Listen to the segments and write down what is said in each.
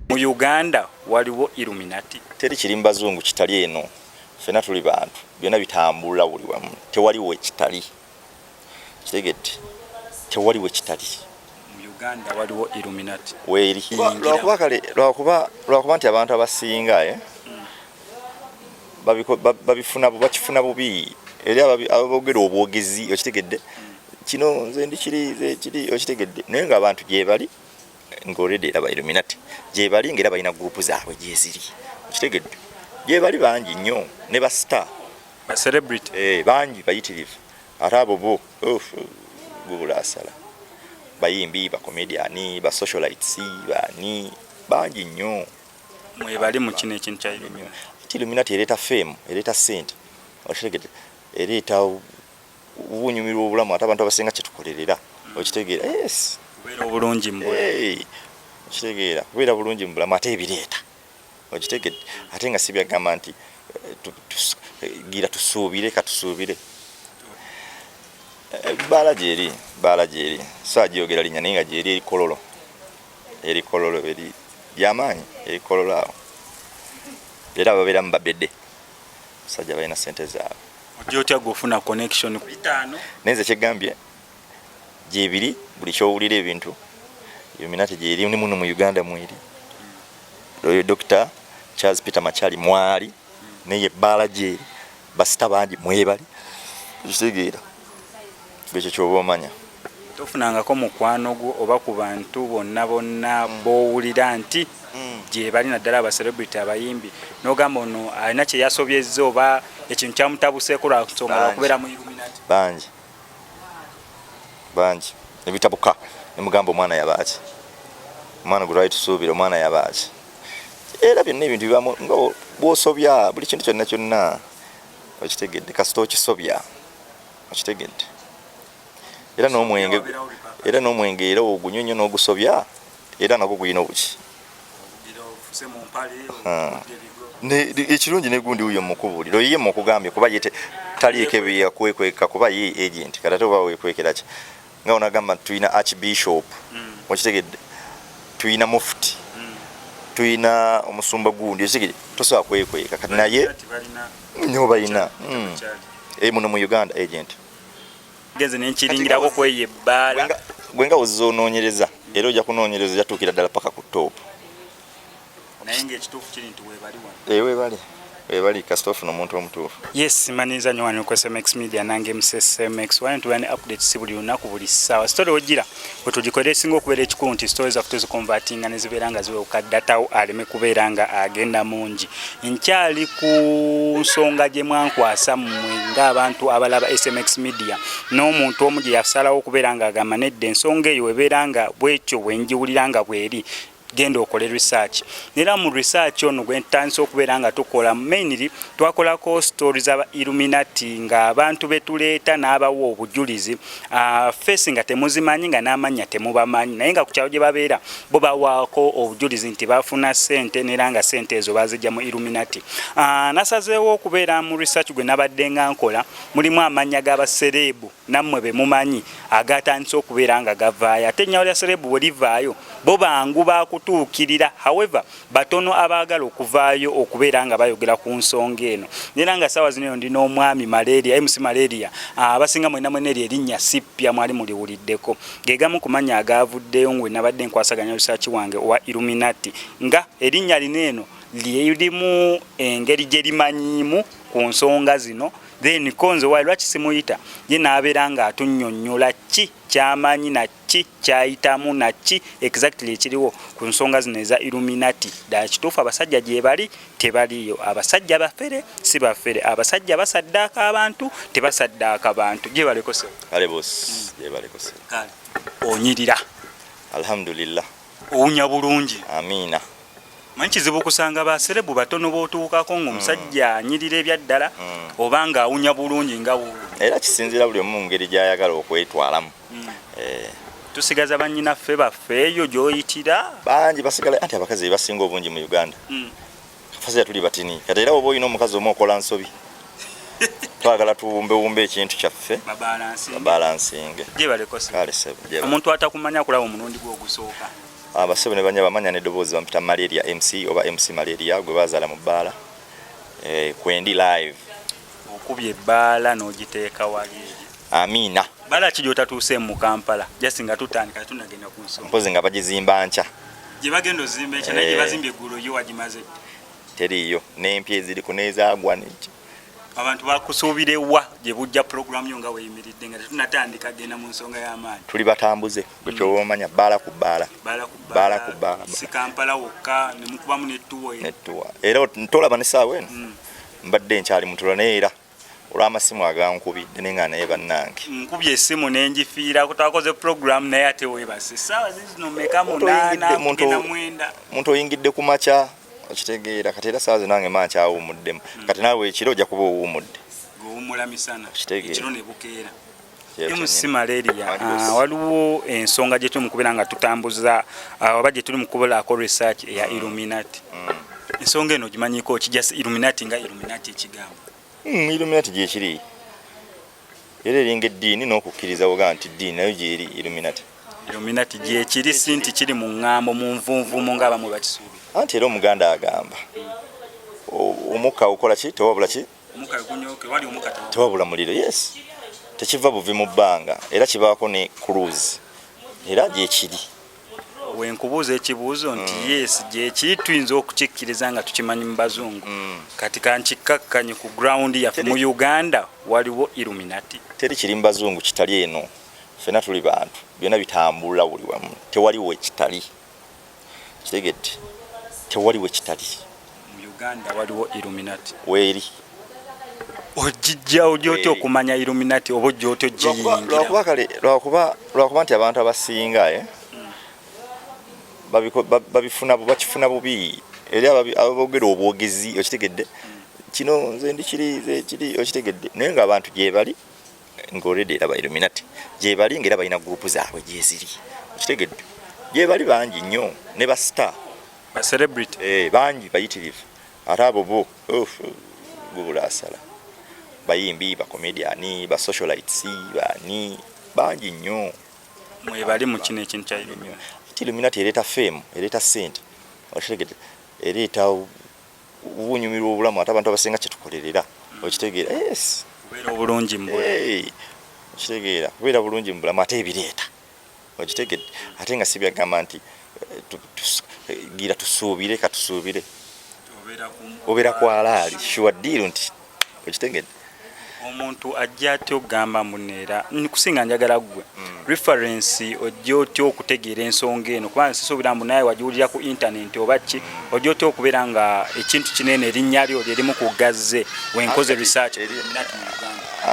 mu uganda waliwo illuminati teri kiri mubazungu kitali eno fena tuli bantu byona bitambula buli wamu tewaliwo ekitali kitegedde tewali we kitali Uganda waliwo Illuminati weeri lwakuba kale lwakuba lwakuba nti abantu abasinga eh babifuna bakifuna bubi eri ababogera obwogezi okitegedde kino nze ndi kiri kiri okitegedde naye nga abantu gyebali nga already era ba Illuminati gyebali nga era balina group zaabwe gyeziri okitegedde gyebali bangi nnyo ne ba star ba celebrity eh bangi bayitirivu ate abo bo gubula asala bayimbi ba comedian ba socialites bani bangi nnyo mwebali mu kino ekintu kya illuminati ati illuminati ereeta fame ereeta sente okitegede ereeta ubunyumirwa obulamu ate abantu abasinga kyetukolerera okitegeera yes kubeera obulungi mu okitegera kubeera bulungi mu bulamu ate ebireeta okitegedde ate nga sibyagamba nti eh, gira tusuubire katusuubire eh, baala gyeri baala gyeri so agyogera linya naye nga gyeri erikololo erikololo eri lyamaanyi erikololo awo era babeera mu babede musajja balina sente zaabwe ojja otya gwe ofuna connection naye nze kyegambye gyebiri buli kyowulira ebintu illuminati gyeri ni muno mu uganda mweri oyo dr charles peter machali mwali naye ebbaala gyeri basita bangi mwebali ekitegeera ekyo kyoba omanya tofunangako mukwano gwo oba ku bantu bonna bonna mm. bowulira nti mm. gyebali naddala abacelebrity abayimbi nogamba ono alina kyeyasobyezza oba ekintu kyamutabuseeko lwansonga lwakubeera mu illuminati bangi bangi nebitabuka nemugamba omwana yabaaki omwana gwe twali tusuubira omwana yabaaki era byonna ebintu bibamu nga bwosobya buli kintu kyonna kyonna okitegedde kasita okisobya okitegedde era n'omwenge era n'omwenge era ogunyonyo n'ogusobya era nagwo gulina obuki ekirungi negundi wuyo mukubulira oyiye mukugambye kuba yete taliiko ebyeyakuwekweka kuba ye agent kati ate oba wekwekera ki nga onagamba nti tulina archbishop mm. okitegedde tulina mufti mm. tulina omusumba gundi okitegedde tosobola kwekweka kati naye nyo balina mm. eh, muno mu uganda agent genze nenkiringirako kweyo ebbaala gwe nga ozza onoonyereza era ojja kunoonyereza ojja tuukira ddala paka ku toopu naye ngaekituufu kiri nti webali wano ee eh, webali webali kasita ofuna omuntu omutuufu yes manyiza nyo wano ku smx media nange msmx wano tuba ne update si buli lunaku buli ssaawa sitole ojira wetugikolera esinga okubeera ekikulu nti sitore zaffe tuzikonvatinga ne zibeera nga ziwewuka datawo aleme kubeera nga agenda mungi nkyali ku nsonga gye mwankwasa mmwe ng'abantu abalaba smx media n'omuntu omu gye yasalawo okubeera ng'agamba nedda ensonga eyo webeera nga bwekyo bwe ngiwulira nga bweri genda okole research nera mu research ono gwe ntandise okubeera nga tukola mainly twakolako story za illuminati nga abantu betuleeta n'abawa obujulizi uh, face nga temuzimanyi nga n'amannya temubamanyi naye nga ku kyalo gye babeera bo bawaako obujulizi nti bafuna sente nera nga sente ezo bazijja mu illuminati uh, nasazeewo okubeera mu research gwe nabadde nga nkola mulimu amannya g'abasereebu nammwe be mumanyi agaatandise okubeera nga gavaayo ate ennyawo lya serebu bwe livaayo bo bangu baakutuukirira however batono abaagala okuvaayo okubeera nga bayogera ku nsonga eno nera nga saawa zino ndi n'omwami malaria mc malaria ah, abasinga mwena mwena eri erinnya sippya mwali muliwuliddeko gegamu ku mannya agaavuddeyo ngwe nabadde nkwasaganya lusaaki wange owa illuminati nga erinnya lino eno lyerimu engeri gye limanyiimu ku nsonga zino then konze wayi lwaki simuyita ye n'abeera ng'atunyonnyola ki kyamanyi naki kyayitamu naki exactly ekiriwo ku nsonga zino eza illuminati ddala kituufu abasajja gyebali tebaliyo abasajja bafere si bafere abasajja basaddaaka abantu tebasaddaaka bantu gyebalekose onyirira alhamdulillah owunya bulungi amiina manyi kizibu kusanga baserebu batono botuukako ngaomusajja mm. anyirira ebyaddala mm. oba nga awunya bulungi nga era kisinzira buli omu ngeri gyayagala okwetwalamu mm. eh. tusigaza banyinaffe baffe eyo gyoyitira bangi basigala anti abakazi bebasinga obungi mu uganda Fazira tuli batini. Kati era oba olina omukazi omu okola nsobi. Twagala tuwumbewumbe ekintu kyaffe. Babalansinge. Babalansinge. Gyebale kosa. Kale sebo. Omuntu atakumanya kulaba omulundi gwo ogusooka. Abasebo ah, ne banya bamanya n'eddoboozi bampita malaria MC oba MC malaria gwe bazaala mu bbaala. Eh, kwendi live. Okubye ebbaala n'ogiteeka wali. amiina bala ki gyotatuuse mu kampala just nga tutandika tunagenda ku nsonga mpozi nga bagizimba nkya gye bagenda ozimba ekya naye gye eh. bazimbye eggulo yo wagimaze teriiyo n'empya eziri ku n'ezaagwa n'ekyo abantu bakusuubire wa gye bujja pulogulaamu yo nga weyimiridde nga tetunatandika genda mu nsonga y'amaanyi tuli batambuze gwe kyoba mm. omanya bbaala ku bbaala bbaala ku bbaala si kampala wokka ne mukubamu nettuwa era tolaba ne saawa eno mm. mbadde nkyali mutula naye era olw'amasimu agankubidde naye nga naye bannange nkubye essimu ne ngifiira kutakoze puroguramu naye ate weebase saawa zizino meka munaanamunaamwenda muntu oyingidde ku makya okitegeera kati era saawa zinange maa nkyawumuddemu hmm. kati naawe ekiro ojja kuba owuumudde gowummula misana ekiro ne bukeera MC malaria ah, waliwo ensonga gye tuli mu kubeera nga tutambuza ah, oba gye tuli mu kubulaako research eya mm. illuminati mm. ensonga eno ogimanyiko ki just illuminati nga illuminati ekigambo mm, illuminati gyekiri era eringa eddiini n'okukkiriza woga nti ddiini nayo gyeri illuminati illuminati gyekiri si nti kiri mu ŋŋambo mu nvunvumu ng'abamu bakisuubira anti era omuganda agamba omukka okola ki tewabula ki tewabula muliro yes tekiva buvi mu bbanga era kibaako ne cruise era gyekiri wenkubuuza ekibuuzo nti mm. yes gyekiri tuyinza okukikkiriza nga tukimanyi mu bazungu mm. kati kankikkakkanye ku ground yaffe mu uganda waliwo illuminati teri kiri mu bazungu kitali eno fena tuli bantu byonna bitambula buli wamu tewaliwo ekitali kitegedde tewali we kitali mu uganda waliwo illuminati weeri ojijjawo gyotya okumanya illuminati oba ojjotya ojjeyingira kale lwakuba nti abantu abasinga eh, babifuna bakifuna bubi eri ababogera obwogezi okitegedde kino nze ndikiri okitegedde naye nga abantu gyebali nga already era ba illuminati gyebali nga era balina gurupu zaabwe gyeziri okitegedde gyebali bangi nnyo ne ba star ba celebrity eh, bangi bayitirivu ate abo bo gubula asala bayimbi bacomediani basocialites bani bangi nnyo mwebali mu kino ekintu kya illuminati illuminati ereeta fame ereeta sente okitegedde ereeta uba onyumirwa obulamu ate abantu abasinga kyetukolerera okitegeera yes kubeera obulungi okitegeera kubeera bulungi mu bulamu ate ebireeta okitegedde ate nga si byagamba nti eh, gira tusuubire katusuubire obeera ku alaali shuwa ddiiru nti okitegede omuntu ajja atya okugamba muno era nikusinga njagala gwe hmm. reference ojja otya okutegeera ensonga eno kubanga sisuubira mbu naye wagiwulira ku internet oba ki hmm. ojja otya okubeera nga ekintu kinene erinnya lyo lyerimu ku gazze wenkoze research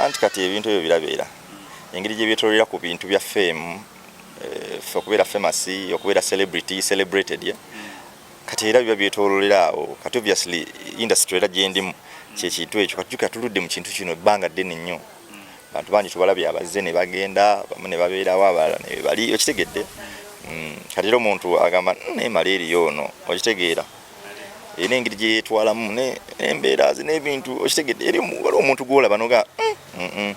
anti kati ebintu ebyo birabeera hmm. engeri gyebyetololera ku bintu bya fame eh, fe okubeera famous okubeera celebrity celebrated yeah? kati era biba byetololera awo kati obviously industry era gyendimu kyekintu ekyo kati jukira tuludde mu kintu kino ebbanga ddene nnyo bantu bangi tubalabye abazze ne bagenda bamu ne babeerawo abalala ne bali okitegedde mm, kati era omuntu agamba mm, naye mala eriyo ono okitegeera era engeri gye yeetwalamu n'embeera ze n'ebintu okitegedde eri waliwo omuntu gwolaba noga mm,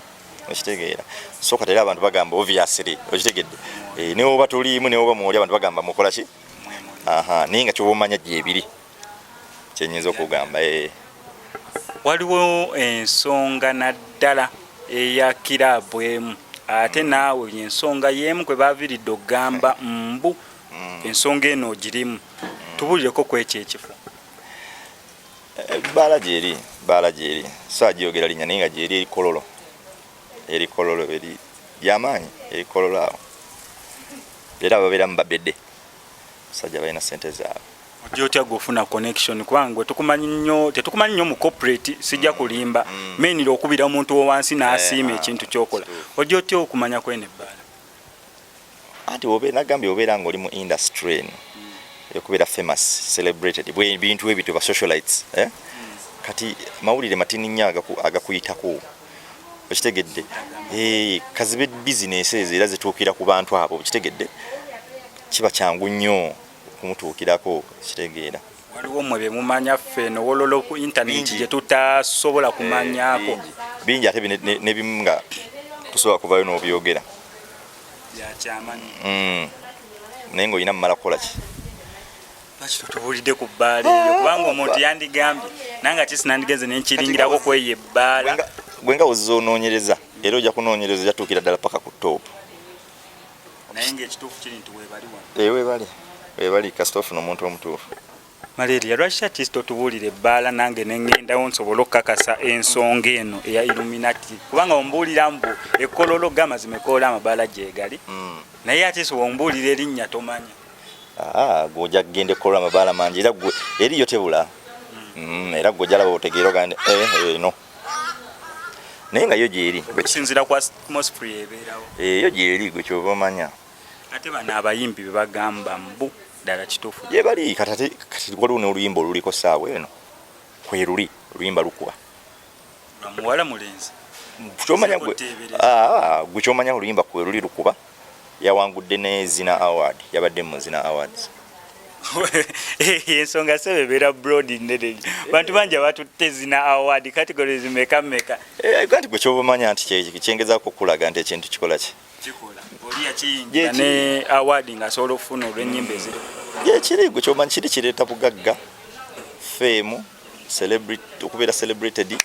okitegeera so kati era abantu bagamba obviously okitegedde eh, newoba tuliimu newoba mwoli abantu bagamba mukola ki aha naye nga kyoba omanya gyebiri kyenyinza okugamba ee eh. waliwo ensonga naddala eya kiraabu emu ate naawe ensonga yeemu kwe baviridde okugamba mbu mm. ensonga eno ogirimu mm. tubulireko ku ekyo ekifo eh, baala gyeri baala gyeri so agyogera linya naye nga gyeri erikololo erikololo eri lyamaanyi erikololo awo era babeera mu babede musajja balina sente zaabwe ojja otya gwe ofuna connection kubanga gwe tukumanyi nnyo tetukumanyi nnyo mu corporate sijja kulimba mm. mainira okubira omuntu wowansi n'asiima eh, ah, ekintu kyokola ojja otya okumanya kwene ebbaala anti nagambye obeera ngaoli mu industry eno mm. okubeera famous celebrated bintu ebyo ba socialites eh? mm. kati mawulire matini nnyo agakuyitako okitegedde eh, kazibe bizinesi ezo era zituukira ku bantu abo okitegedde kiba kyangu nnyo okumutuukirako kitegeera waliwo mwe bemumanya ffe nowolola ku intaneti gyetutasobola eh, kumanyako bingi ate nebimu nga tusobola kuvayo nobyogera mm. naye ngaolina mumala kukolaki lwaki totubuulidde ku bbaala eyo kubanga omuntu yandigambye nanga kisi nandigenze nenkiringirako kweyo ebbaala gwe nga ozza onoonyereza era ojja kunoonyereza ojja tuukira ddala paka ku toopu naye ngaekituufu kiri nti webali wano eh, webali webali kasita ofuna omuntu omutuufu malaria lwaki takiisi totubuulira ebbaala nange nengendawo nsobole okukakasa ensonga eno eya illuminati kubanga ombuulira mbu ekkololo gamazima ekoola amabaala gyegali hmm. naye atiisi wombuulira erinnya tomanya gwe ojja kugenda ekkolwa amabaala mangi era gwe eriyo tebula mm, era gwe ojja laba otegeera ogande eh, eh, eno naye nga yo gyeri eh, yo gyeri gwe kyova omanya ate bano abayimbi bebagamba mbu ddala kituufu gyebali kati waliwo n'oluyimba oluliko saawa eno kweruli oluyimba lukuba muwala mulenzi kyomanya gwe ah, gwe kyomanya oluyimba kwe luli lukuba yawangudde ne zina award yabadde mu zina awards ensonga sebe beera broad nene bantu bangi abatutte zina award categories meka meka eh, kati gwe kyobamanya nti kyengezako okulaga nti ekintu kikola ki yekirigo kyomanyi kiri kireeta bugagga fame okubeera celebrated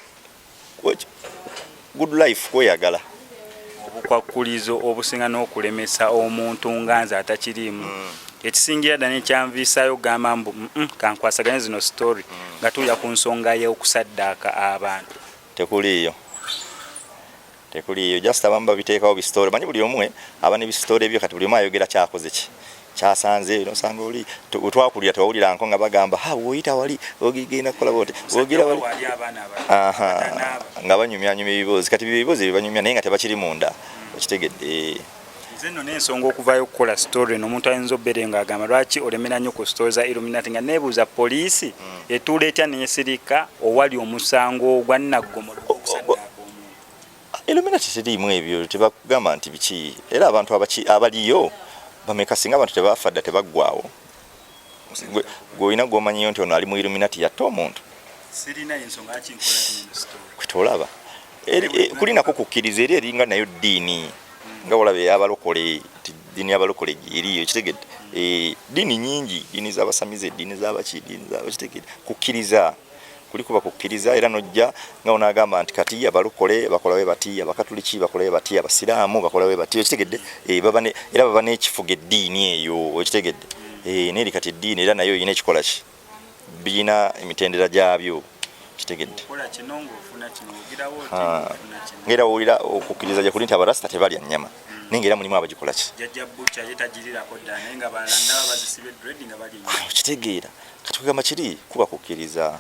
good life kweyagala obukwakkulizo obusinga n'okulemesa omuntu nga nze atakiriimu mm. ekisingira dda nekyanviisaayo okugamba mbu kankwasaganye zino story mm. nga tuuya ku nsonga y'okusaddaaka abantu tekuliiyo tekuliyo just abamu babiteekawo bisitore manyi buli omwe aba ne bisitore byo kati buli omwe ayogera kyakoze ki kyasanze eno sanga oli twakulira tewawulira nko nga bagamba ha woyita wali ogigenda kukola bote wogira wali aha nga banyumya nyumya ebibuuzi kati byo ebibuuzi bibanyumya naye nga tebakiri munda hmm. okitegedde nze nno n'ensonga okuvaayo okukola story no omuntu ayinza obbeere nga agamba lwaki olemera nnyo ku story za illuminati nga neebuuza poliisi hmm. etuula etya neesirika owali omusango ogwa naggomola Illuminati tiriimu ebyo tebagamba nti biki era abantu abaki abaliyo bameka singa abantu tebaafa dda tebaggwawo gwe olina gwomanyiyo nti ono ali mu Illuminati yatta omuntu kwetolaba e, kulinako kukkiriza eri eringa nayo ddiini hmm. nga olaba eyabalokole nti ddiini yabalokole eriyo ekitegedde eh, ddiini nyingi ddiini zabasamize ddiini zabaki ddiini zabakitegedde kukkiriza kuliko bakukkiriza era nojja nga onagamba nti kati abalokole bakola we bati abakatuliki bakola we bati abasiraamu bakola we bati okitegedde eh, era baba n'ekifuga eddiini eyo okitegedde eh, neeri kati eddiini era nayo olina ekikola ki birina emitendera gyabyo kitegedde ngaera wowulira okukkiriza gyekuli nti abarasita tebalya nnyama naye ngaera mulimu abagikolaki okitegeera kati kugamba kiri kuba kukkiriza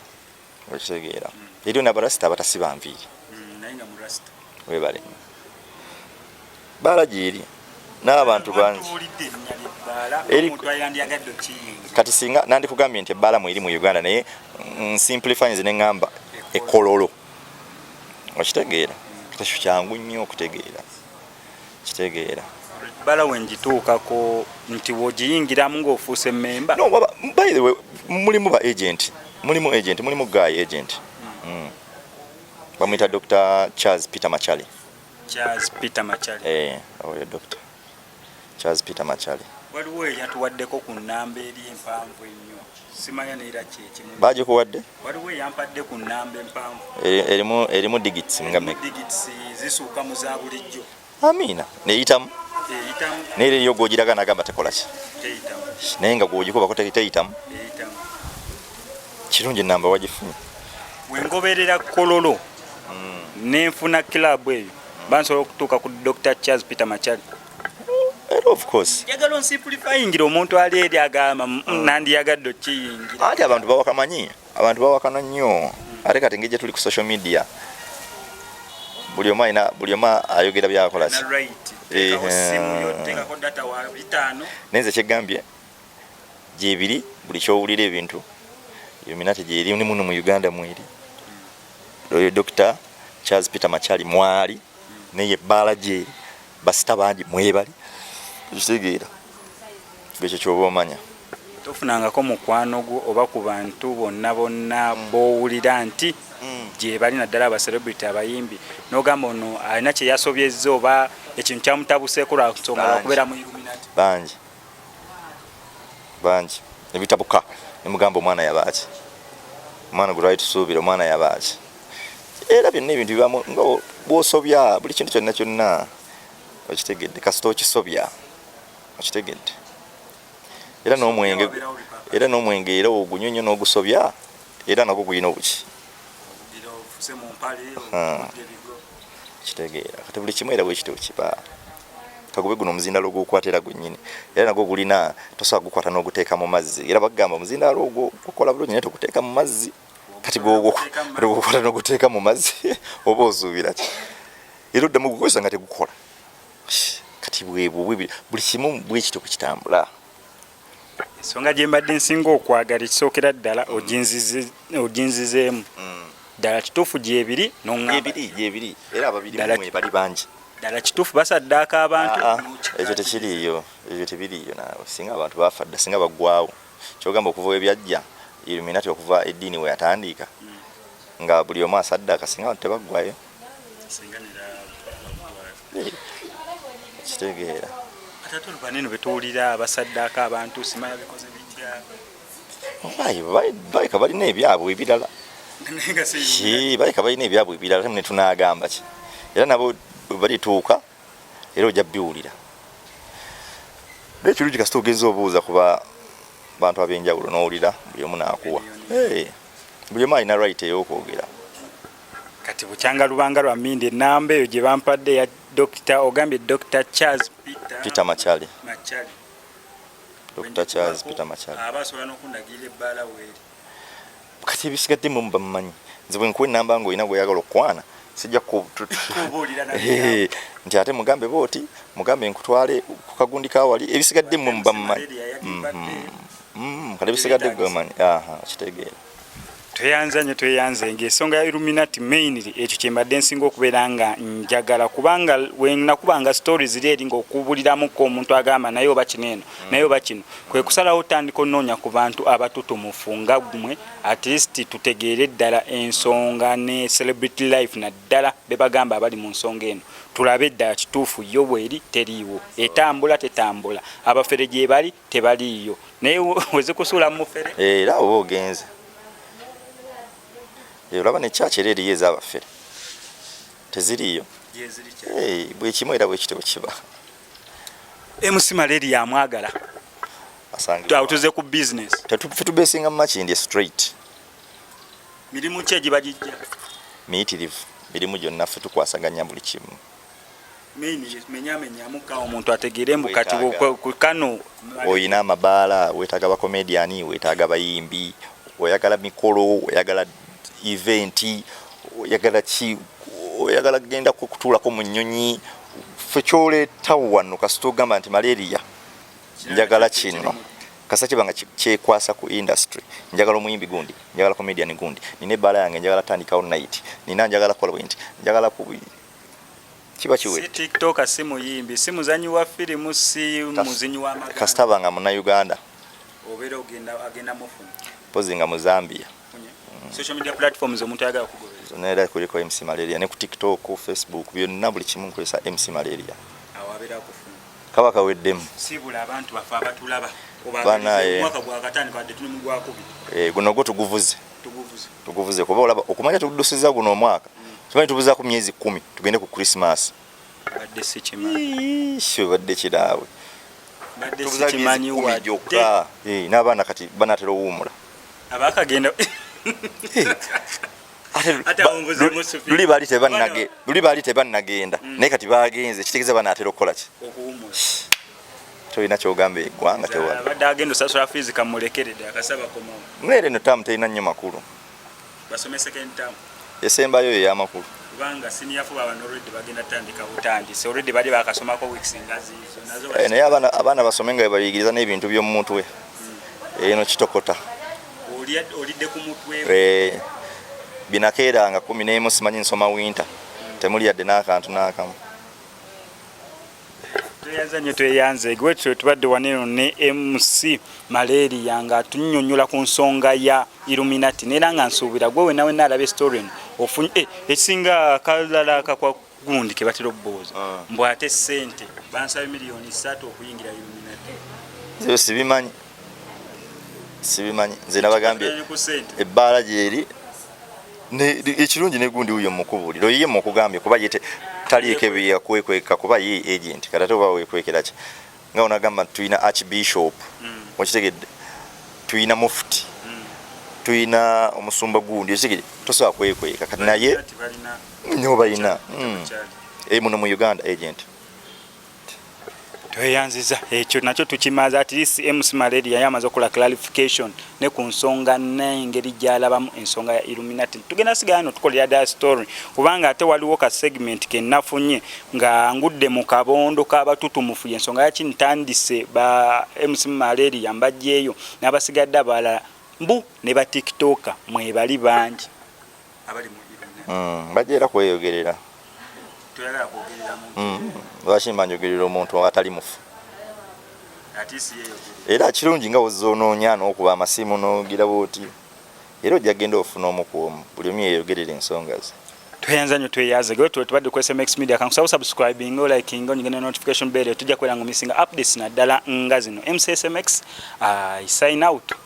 okitegeera eriyo nabarasita abatasiba nviiri hmm, webale baala gyeri n'abantu bangi kati singa nandikugambye nti ebbaala mu eri mu uganda naye nsimplifyinze ne ŋŋamba ekololo okitegeera kati kyangu nnyo okutegeera kitegeera bala wengituukako nti wogiyingiramu ngaofuuse memba no, baba, by the way mulimu ba agent mulimu agent mulimu guy agent mm. Mm. bamuyita dr charles peter machali charles peter machali eh, oyo doctor Charles Peter Machali. Waliwo eyatuwaddeko ku nnamba eri empanvu ennyo simanya neera kyekimu. Baagikuwadde? Waliwo eyampadde ku nnamba empanvu. Erimu erimu digits nga me. Digits zisuuka mu za bulijjo. Amiina. Neyitamu? Eyitamu. Neera eriyo gw'ogiraga n'agamba tekola ki? Teyitamu. Naye nga gw'ogikubako teyitamu? Eyitamu. Kirungi nnamba wagifunye. Wengoberera kololo hmm. nenfuna club eyo bansobola okutuuka ku Dr. Charles Peter Machali. of course njagala onsimplifyingira omuntu ali eri agamba mm, mm. nandiyagadde okiyingira anti abantu bawakamanyi abantu bawakana nnyo ate kati ngeri gyetuli ku social media buli omu alina buli omu ayogera byakola eh, naye nze kyegambye gyebiri buli kyowulira ebintu yominate gyeri ni muno mu uganda mweri oyo dr charles peter machali mwali mm. naye ebbaala gyeri basita bangi mwebali ekitegeera ekyo kyoba omanya tofunangako mukwano gwo oba ku bantu bonna bonna mm. bowulira nti mm. gyebali naddala abacelebrity abayimbi nogamba ono alina kyeyasobyezza oba ekintu kyamutabuseko lwansonga lwakubeera mu illuminati bangi bangi nebitabuka nemugamba omwana yabaaki omwana gwe twali tusuubira omwana yabaaki era byonna ebintu bibamu nga bwosobya buli kintu kyonna kyonna okitegedde kasita okisobya okitegedde era n'omwenge era n'omwenge era ogunyonyo n'ogusobya era nagwo gulina obuki kitegeera kati buli kimu era bwekityo kiba kagube guno omuzindalo ogwokwata era gwennyini era nagwo gulina tosobola gukwata n'oguteeka mu mazzi era bagamba omuzindalo ogwo gukola bulungi naye toguteeka mu mazzi kati gwogukwata n'oguteeka mu mazzi oba ozuubira ki era oddamu gukozesa nga tegukola kati bwebwo buli kimu bwekityo bwekitambula ensonga gye mbadde nsinga okwagala ekisookera ddala oginzizeemu ddala kituufu gyebiri nongaebiri era ababiri bali bangi ddala kituufu basaddaaka abantu ah, ah, ekyo tekiriiyo ekyo tebiriiyo naawe singa abantu bafa dda singa baggwawo kyogamba okuva webyajja iluminati okuva eddiini weyatandiika hmm. nga buli omu asaddaaka singa abantu tebaggwayo kitegeera atatulubaneno betuwulira abasaddaaka abantu simala bikoze bitya baleka balina ebyabwe ebirala baleka balina ebyabwe ebirala temu netunagamba ki era nabo balituuka era ojja biwulira nekirungi kasita ogenza obuuza kuba bantu abenjawulo nowulira buli omu nakuwa buli omu alina right eyokwogera kati bukyanga lubanga lwa mindi enamba eyo gye bampadde ya dokita ogambye dokita charles peter, peter machali machali dokita charles peter machali aba asobola n'okundagirira ebbaala weeri kati ebisigadde mu bamumanyi nze bwe nkuwa enamba ng'olina gweyagala okukwana sijja kubuulira nti ate mugambe booti mugambe nkutwale ku kagundi kawali ebisigadde mwe mubamumanyi mhm. mm, kale ebisigadde gwemanyi kitegeera tweyanza nyo tweyanze nge esonga ya illuminati mainly ekyo kyembadde nsinga okubeera nga njagala kubanga wenakubanga story ziri eri ngaokubuliramuko omuntu agamba naye oba kino eno mm. naye oba kino kwe kusalawo otandika onoonya ku bantu abatutumufu nga gumwe at least tutegeere ddala ensonga ne celebrity life naddala bebagamba abali mu nsonga eno tulabe ddala kituufu yo bweri teriiwo etambula tetambula abafere gyebali tebaliiyo naye wezikusuula mufere era oba ogenze olaba ne church era eriyo ezabafere teziriiyo bwekimu era bwekityo bwekiba MC Malaria yamwagala asangibwa tuze ku business tetubesinga makindi straight mirimu ki egibagijja miyitirivu mirimu gyonna ffe tukwasaganya buli kimu omuntu ategeere mbu kati kano olina amabaala wetaaga bakomediani wetaaga bayimbi oyagala mikolo oyagala eventi oyagala ki oyagala kugenda kutuulako mu nnyonyi fe kyoleeta wano kasita ogamba nti malaria njagala kino kasa kiba nga kyekwasa ku industry njagala omuyimbi gundi njagala comedian gundi nina ebbaala yange njagala tandikawo night nina njagala kola bwenti njagala kiba kiwedde. Si tiktoka, si muyimbi, si muzanyi wa firimu, si muzinyi wa maganda. Kasita aba nga munnayuganda. Obeera ogenda agenda mufuna. Mpozi nga mu Zambia. Mm. Social media platforms omuntu ayagala kugoberera. Zonna era kuliko MC Malaria ne ku TikTok, Facebook byonna buli kimu nkozesa MC Malaria. Awo abeera akufuna. Kaba kaweddemu. Sibula abantu bafe abatulaba. Banaye. Omwaka gwakatandika wadde tuli mu gwakubiri. Eh, guno gwo tuguvuze. tuguvuze kuba olaba okumanya tudusiza guno omwaka tumanyi tubuzaku myezi kumi tugende ku krismas badde kiraawe gyokka eh, n'abaana kati banatera owuumula luli baali tebanagenda mm. naye kati bagenze kitegeeza banatera okukola ki tolina kyogamba egwanga tewabadde agenda osasula fiizi kamulekerede akasaba komawo mweere no tamu terina nnyo makulu basomeseko entamu esembayo yo yamakulu kubanga siniya fo baba already bagenda tandika butandisi already bali bakasomako weeks ngazi nazo eh, naye abana abana basome nga bayigiriza n'ebintu by'omu mutwe hmm. eno kitokota oli olidde ku mutwe eh binakeeranga kumi n'emu simanyi nsoma winter hmm. temuli yadde n'akantu n'akamu tweyanza nnyo tweyanza egwetyo tubadde waneno ne mc malaria nga tunyonyola ku nsonga ya illuminati neera nga nsuubira gwe wenawe naalaba estorien ofunye eh, ekisinga kalala kakwa gundi ke batera okubuuza ah. mbu ate ssente bansaba miliyoni ssatu okuyingira illuminati zeo sibimanyi sibimanyi nze nabagambye ebbaala gyeri ekirungi negundi wuyo mukubuliro yiye mukugambye kuba yete taliiko ebyeyakuwekweka kuba ye agent kati ate oba wekwekera ki nga onagamba nti tulina archbishop mm. okitegedde tulina mufti mm. tulina omusumba gundi okitegedde tosobola kwekweka kati naye nyo balina mm. eh, muno mu uganda agent tweyanziza ekyo nakyo tukimaze at least MC Malaria yali amaze okola clarification ne ku nsonga n'engeri gy'alabamu ensonga ya Illuminati tugenda sigala no tukolera da story kubanga ate waliwo ka segment ke nafunye nga ngudde mu kabondo k'abatutumufu y'ensonga yaki ntandise ba MC Malaria mbajjeeyo n'abasigadde abalala mbu ne ba tiktoker mwebali bangi abali mu mm, bajja era kweyogerera mm, lwaki mba njogerera omuntu atali mufu era kirungi nga wozonoonya n'okuba amasimu n'ogira bwoti era ojja genda ofuna omu ku omu buli omu yeyogerera ensonga ze tweyanza nyo tweyaze gwe tuwe tubadde ku SMX Media kan kusaba subscribing o liking onyi gene notification bell tujja kwera ngo missing updates na dala nga zino MCSMX I sign out